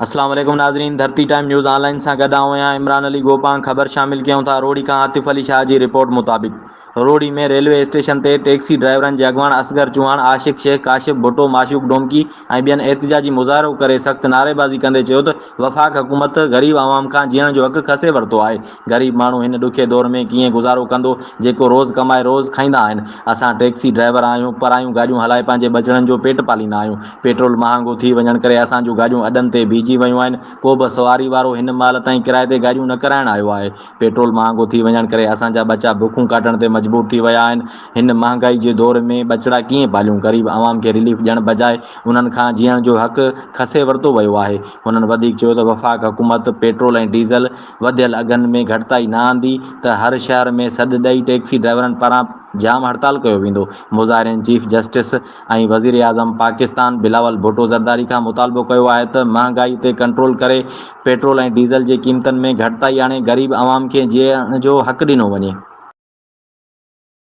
اسلام عليڪم ناظرين Dharti time news online سان گڏ آئون آهيان عمران علي گوپانگ خبر شامل ڪيون ٿا روهڙي کان عاطف علي شاهه جي رپورٽ مطابق روهڙي ۾ ريلوي اسٽيشن تي ٽيڪسي ڊرائيورن جي اڳواڻ اصغر چوهاڻ عاشق شيخ ڪاشف ڀٽو معشوق ڊومڪي ۽ ٻين احتجاجي مظاهرو ڪري سخت نعريبازي ڪندي چيو ته وفاق حڪومت غريب عوام کان جيئڻ جو حق کسي ورتو آهي غريب ماڻهو هن ڏکي دور ۾ ڪيئن گذارو ڪندو جيڪو روز ڪمائي روز کائيندا آهن. اسان ٽيڪسي ڊرائيور آهيون، پرايون گاڏيون هلائي پنهنجي ٻچڙن جو پيٽ پاليندا آهيون. پيٽرول مهانگو ٿي وڃڻ ڪري اسان جون گاڏيون اڏن تي بيهجي ويون آهن. ڪوبه سواري وارو هن مهل تائين ڪرائي تي گاڏيون نه ڪرائڻ آيو آهي. پيٽرول مهانگو ٿي وڃڻ ڪري اسان جا ٻچا بکون ڪاٽڻ تي مجبور ٿي ويا آهن. هن مهانگائي جي دور ۾ ٻچڙا ڪيئن پاليون؟ غريب عوام کي رليف ڏيڻ بجاء انهن کان جيئڻ جو حق کسي ورتو ويو آهي. هنن وڌيڪ چيو ته وفاق حڪومت پيٽرول ۽ ڊيزل، وڌيل اگهن ۾ گهٽتائي نه آندي ته هر شهر ۾ سڏ ڏئي ٽيڪسي ڊرائيورن پاران جام هڙتال ڪيو ويندو، مظاهرين چيف جسٽس ۽ وزيراعظم پاڪستان بلاول ڀٽو زرداري کان مطالبو ڪيو آهي ته مهانگائي تي ڪنٽرول ڪري پيٽرول ۽ ڊيزل جي قيمتن ۾ گهٽتائي آڻي غريب عوام کي جيئڻ جو حق ڏنو وڃي.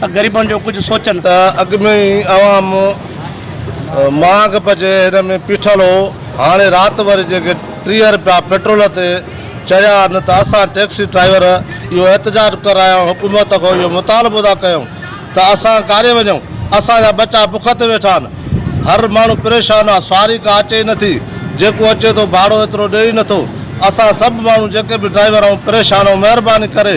ته غريبن جو ڪجهه سوچن. ته اڳ ۾ ئي عوام مهانگ پچي هن ۾ پيٺل هو، هاڻي رات وري جيڪي ٽيهه رپيا پيٽرول تي چڙهيا آهن ته اسان ٽيڪسي ڊرائيور اهو احتجاج ڪرڻ آيا آهيون، حڪومت کان اهو مطالبو ٿا ڪيون ته اسان ڪاڏي وڃون، اسان جا ٻچا بک تي ويٺا آهن، هر ماڻهو پريشان آهي، سواري ڪا اچي ئي نٿي، جيڪو اچي ٿو ڀاڙو ايترو ڏئي ئي نٿو، اسان سڀ ماڻهو جيڪي به ڊرائيور آهيون پريشان آهيون، مهرباني ڪري.